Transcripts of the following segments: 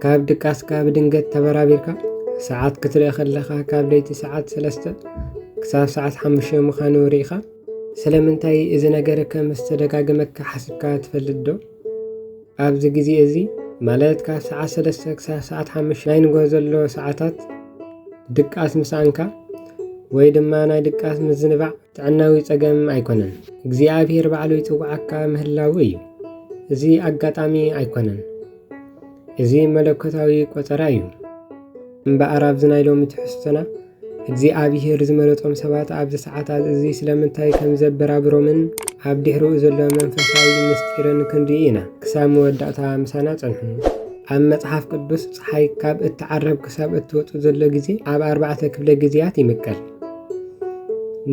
ካብ ድቃስካ ብድንገት ተበራቢርካ ሰዓት ክትርኢ ከለኻ ካብ ለይቲ ሰዓት ሰለስተ ክሳብ ሰዓት ሓሙሽተ ምዃኑ ርኢኻ ስለምንታይ እዚ ነገር ከም ዝተደጋገመካ ሓስብካ ትፈልጥ ዶ? ኣብዚ ግዜ እዚ ማለት ካብ ሰዓት ሰለስተ ክሳብ ሰዓት ሓሙሽተ ናይ ንጎ ዘሎ ሰዓታት ድቃስ ምስኣንካ ወይ ድማ ናይ ድቃስ ምዝንባዕ ጥዕናዊ ጸገም ኣይኮነን፣ እግዚኣብሔር ባዕሉ ይጽውዓካ ምህላዉ እዩ። እዚ ኣጋጣሚ ኣይኮነን፣ እዚ መለኮታዊ ቆጸራ እዩ። እምበኣር ኣብዚ ናይ ሎሚ ትሕዝቶና እግዚኣብሄር ዝመረጦም ሰባት ኣብዚ ሰዓታት እዚ ስለምንታይ ከም ዘበራብሮምን ኣብ ድሕሪኡ ዘሎ መንፈሳዊ ምስጢርን ክንርኢ ኢና። ክሳብ መወዳእታ ምሳና ጸንሑ። ኣብ መጽሓፍ ቅዱስ ፀሓይ ካብ እትዓረብ ክሳብ እትወጽእ ዘሎ ግዜ ኣብ ኣርባዕተ ክፍለ ግዜያት ይምቀል።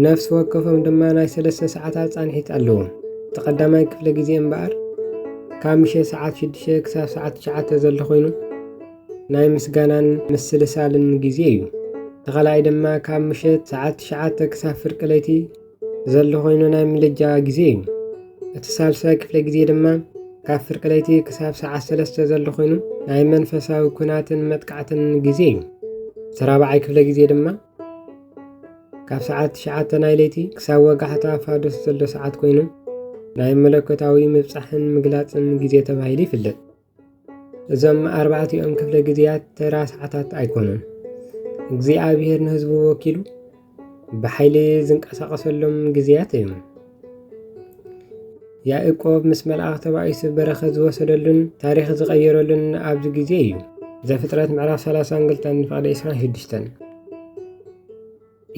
ነፍሲ ወከፎም ድማ ናይ ሰለስተ ሰዓታት ፃንሒት ኣለዎም እቲ ቀዳማይ ክፍለ ግዜ እምበኣር ካብ ምሸት ሰዓት ሽዱሽተ ክሳብ ሰዓት ትሽዓተ ዘሎ ኮይኑ ናይ ምስጋናን ምስልሳልን ግዜ እዩ እቲ ካልኣይ ድማ ካብ ምሸት ሰዓት ትሽዓተ ክሳብ ፍርቂ ለይቲ ዘሎ ኮይኑ ናይ ምልጃ ግዜ እዩ እቲ ሳልሳይ ክፍለ ግዜ ድማ ካብ ፍርቂ ለይቲ ክሳብ ሰዓት ሰለስተ ዘሎ ኮይኑ ናይ መንፈሳዊ ኩናትን መጥቃዕትን ግዜ እዩ እቲ ራብዓይ ክፍለ ግዜ ድማ ካብ ሰዓት ትሽዓተ ናይ ለይቲ ክሳብ ወጋሕታ ፋዶስ ዘሎ ሰዓት ኮይኑ ናይ መለኮታዊ ምብፃሕን ምግላፅን ግዜ ተባሂሉ ይፍለጥ እዞም ኣርባዕቲኦም ክፍለ ግዜያት ተራ ሰዓታት ኣይኮኑን። እግዚኣብሔር ንህዝቡ ወኪሉ ብሓይሊ ዝንቀሳቐሰሎም ግዜያት እዮም። ያእቆብ ምስ መልኣኽ ተባኢሱ በረኸት ዝወሰደሉን ታሪኽ ዝቐየረሉን ኣብዚ ግዜ እዩ። ዘፍጥረት ምዕራፍ 30 እንግልተን ንፍቕደ 26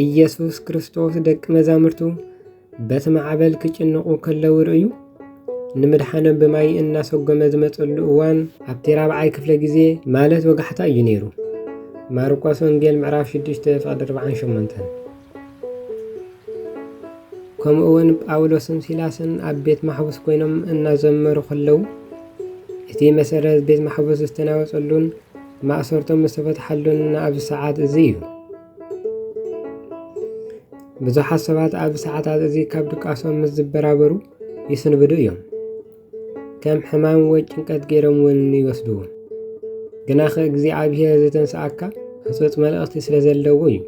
ኢየሱስ ክርስቶስ ደቂ መዛሙርቱ በቲ ማዕበል ክጭንቑ ከለዉ ርእዩ ንምድሓኖም ብማይ እናሰጎመ ዝመፀሉ እዋን ኣብቲ ራብዓይ ክፍለ ግዜ ማለት ወጋሕታ እዩ ነይሩ። ማርቆስ ወንጌል ምዕራፍ 6 ፍቕዲ 48 ከምኡ እውን ጳውሎስን ሲላስን ኣብ ቤት ማሕቡስ ኮይኖም እናዘመሩ ከለዉ እቲ መሰረት ቤት ማሕቡስ ዝተናወፀሉን ማእሰርቶም ዝተፈትሓሉን ኣብዚ ሰዓት እዚ እዩ። ብዙሓት ሰባት ኣብዚ ሰዓታት እዚ ካብ ድቃሶም ምስ ዝበራበሩ ይስንብዱ እዮም። ከም ሕማም ወይ ጭንቀት ገይሮም እውን ይወስድዎ። ግናኸ እግዚኣብሔር ዝተንስኣካ ህፁፅ መልእኽቲ ስለ ዘለዎ እዩ።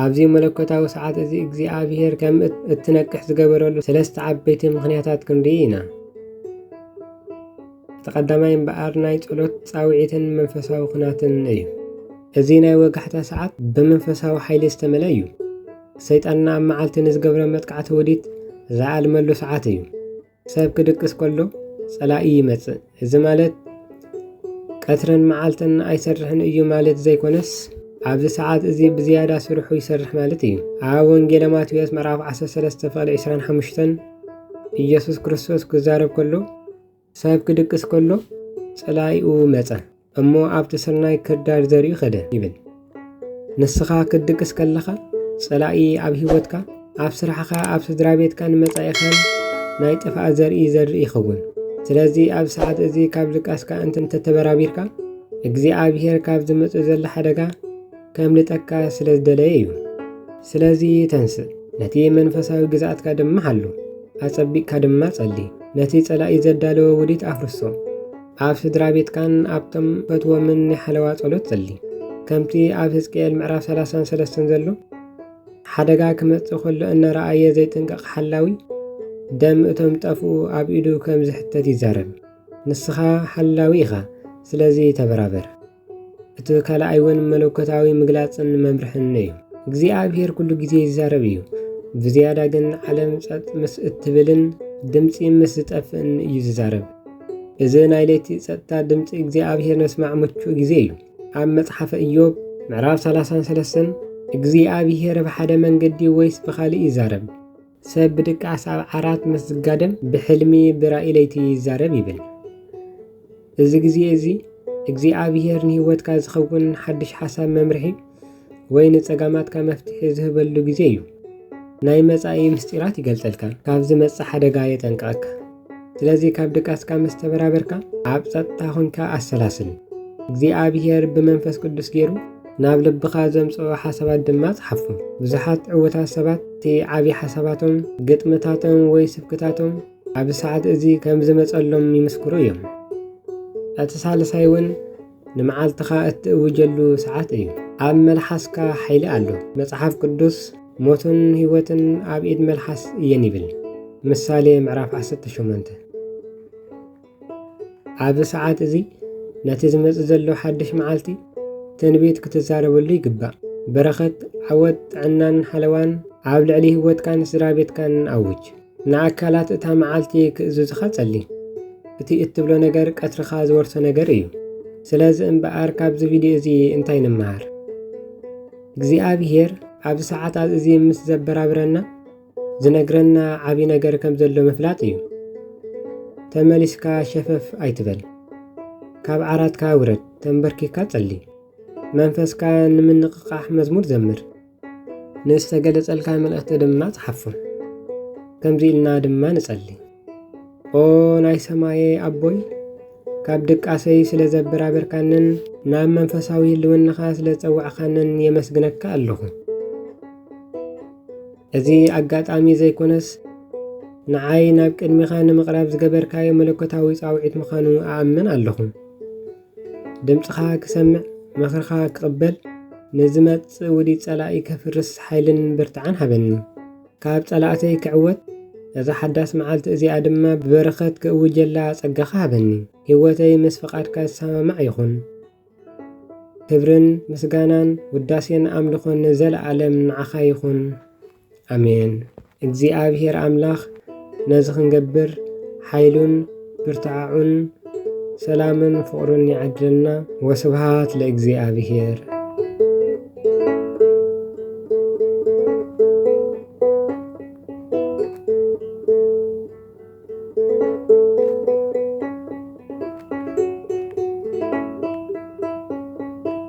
ኣብዚ መለኮታዊ ሰዓት እዚ እግዚኣብሔር ከም እትነቅሕ ዝገበረሉ ሰለስተ ዓበይቲ ምኽንያታት ክንርኢ ኢና። እቲ ቀዳማይ እምበኣር ናይ ጸሎት ጻውዒትን መንፈሳዊ ኩናትን እዩ። እዚ ናይ ወጋሕታ ሰዓት ብመንፈሳዊ ሓይሊ ዝተመልአ እዩ። ሰይጣንና ኣብ መዓልቲ ንዝገብረ መጥቃዕቲ ውዲት ዝኣልመሉ ሰዓት እዩ። ሰብ ክድቅስ ከሎ ጸላኢ ይመጽእ። እዚ ማለት ቀትርን መዓልትን ኣይሰርሕን እዩ ማለት ዘይኮነስ ኣብዚ ሰዓት እዚ ብዝያዳ ስርሑ ይሰርሕ ማለት እዩ። ኣብ ወንጌለ ማቴዎስ ምዕራፍ 13 ፍቕዲ 25 ኢየሱስ ክርስቶስ ክዛረብ ከሎ ሰብ ክድቅስ ከሎ ጸላኢኡ መጸ እሞ ኣብቲ ስርናይ ክርዳድ ዘሪኡ ኸደ ይብል። ንስኻ ክትድቅስ ከለኻ ጸላኢ ኣብ ህይወትካ፣ ኣብ ስራሕኻ፣ ኣብ ስድራ ቤትካን መጻኢኻን ናይ ጥፍኣት ዘርኢ ዘርኢ ይኸውን። ስለዚ ኣብ ሰዓት እዚ ካብ ድቃስካ እንተተበራቢርካ እግዚኣብሔር ካብ ዝመጽእ ዘሎ ሓደጋ ከምልጠካ ስለ ዝደለየ እዩ። ስለዚ ተንስእ፣ ነቲ መንፈሳዊ ግዝኣትካ ድማ ሓሉ፣ ኣጸቢቕካ ድማ ጸሊ። ነቲ ጸላኢ ዘዳለወ ውዲት ኣፍርሶ። ኣብ ስድራ ቤትካን ኣብቶም ፈትዎምን ናይ ሓለዋ ጸሎት ጸሊ። ከምቲ ኣብ ህዝቅኤል ምዕራፍ 33 ዘሎ ሓደጋ ክመጽእ ከሎ እናረኣየ ዘይጥንቀቕ ሓላዊ ደም እቶም ጠፍኡ ኣብ ኢዱ ከም ዝሕተት ይዛረብ። ንስኻ ሓላዊ ኢኻ፣ ስለዚ ተበራበር። እቲ ካልኣይ እውን መለኮታዊ ምግላፅን መምርሕን እዩ። እግዚኣብሔር ኩሉ ግዜ ይዛረብ እዩ። ብዝያዳ ግን ዓለም ጸጥ ምስ እትብልን ድምፂ ምስ ዝጠፍእን እዩ ዝዛረብ። እዚ ናይ ለይቲ ጸጥታ ድምፂ እግዚኣብሔር ነስማዕ ምቹእ ግዜ እዩ። ኣብ መጽሓፈ እዮብ ምዕራፍ 33 እግዚኣብሔር ብሓደ መንገዲ ወይስ ብኻሊእ ይዛረብ? ሰብ ብድቃስ ኣብ ዓራት ምስ ዝጋደም ብሕልሚ ብራእይ ለይቲ ይዛረብ ይብል። እዚ ግዜ እዚ እግዚኣብሄር ንህይወትካ ዝኸውን ሓድሽ ሓሳብ መምርሒ ወይ ንጸጋማትካ መፍትሒ ዝህበሉ ግዜ እዩ። ናይ መጻኢ ምስጢራት ይገልጸልካ፣ ካብ ዝመጽእ ሓደጋ የጠንቅቐካ። ስለዚ ካብ ድቃስካ ምስ ተበራበርካ ኣብ ጸጥታ ኾንካ ኣሰላስል። እግዚኣብሄር ብመንፈስ ቅዱስ ገይሩ ናብ ልብኻ ዘምጽኦ ሓሳባት ድማ ጸሓፎ። ብዙሓት ዕውታት ሰባት እቲ ዓብዪ ሓሳባቶም፣ ግጥምታቶም ወይ ስብክታቶም ኣብዚ ሰዓት እዚ ከም ዝመጸሎም ይምስክሩ እዮም። እቲ ሳልሳይ እውን ንመዓልትኻ እትእውጀሉ ሰዓት እዩ። ኣብ መልሓስካ ሓይሊ ኣሎ። መጽሓፍ ቅዱስ ሞትን ህይወትን ኣብ ኢድ መልሓስ እየን ይብል። ምሳሌ ምዕራፍ 18 ኣብዚ ሰዓት እዚ ነቲ ዝመጽእ ዘሎ ሓድሽ መዓልቲ ትንቢት ክትዛረበሉ ይግባእ። በረኸት፣ ዓወት፣ ጥዕናን ሓለዋን ኣብ ልዕሊ ህይወትካን ስድራ ቤትካን ኣውጅ። ንኣካላት እታ መዓልቲ ክእዝዙኻ ጸሊ። እቲ እትብሎ ነገር ቀትርኻ ዝወርሶ ነገር እዩ። ስለዚ እምበኣር ካብዚ ቪድዮ እዚ እንታይ ንመሃር? እግዚኣብሄር ኣብዚ ሰዓታት እዚ ምስ ዘበራብረና ዝነግረና ዓብዪ ነገር ከም ዘሎ ምፍላጥ እዩ። ተመሊስካ ሸፈፍ ኣይትበል። ካብ ዓራትካ ውረድ፣ ተንበርኪካ ጸሊ። መንፈስካ ንምንቕቓሕ መዝሙር ዘምር። ንዝተገለጸልካ መልእኽቲ ድማ ጽሓፉ። ከምዚ ኢልና ድማ ንጸሊ ኦ ናይ ሰማየ ኣቦይ ካብ ድቃሰይ ስለ ዘበራበርካንን ናብ መንፈሳዊ ህልውናኻ ስለ ጸዋዕካንን የመስግነካ ኣለኹ። እዚ ኣጋጣሚ ዘይኮነስ ንዓይ ናብ ቅድሚኻ ንምቕራብ ዝገበርካዮ መለኮታዊ ጻውዒት ምዃኑ ኣኣምን ኣለኹ። ድምጽኻ ክሰምዕ ምኽርኻ ክቕበል ንዝመጽእ ውዲት ጸላኢ ከፍርስ ሓይልን ብርታዐን ሃበኒ። ካብ ጸላእተይ ክዕወት እዛ ሓዳስ መዓልቲ እዚኣ ድማ ብበረኸት ክእውጀላ ጸጋኻ ሃበኒ። ህይወተይ ምስ ፍቓድካ ዝሰማማዕ ይኹን። ክብርን ምስጋናን ውዳሴን ኣምልኾን ንዘለኣለም ንዓኻ ይኹን። ኣሜን እግዚኣብሔር ኣምላክ ነዚ ክንገብር ሓይሉን ብርትዐዑን ሰላምን ፍቅሩን ይዓድለና ወስብሃት ለእግዚኣብሔር።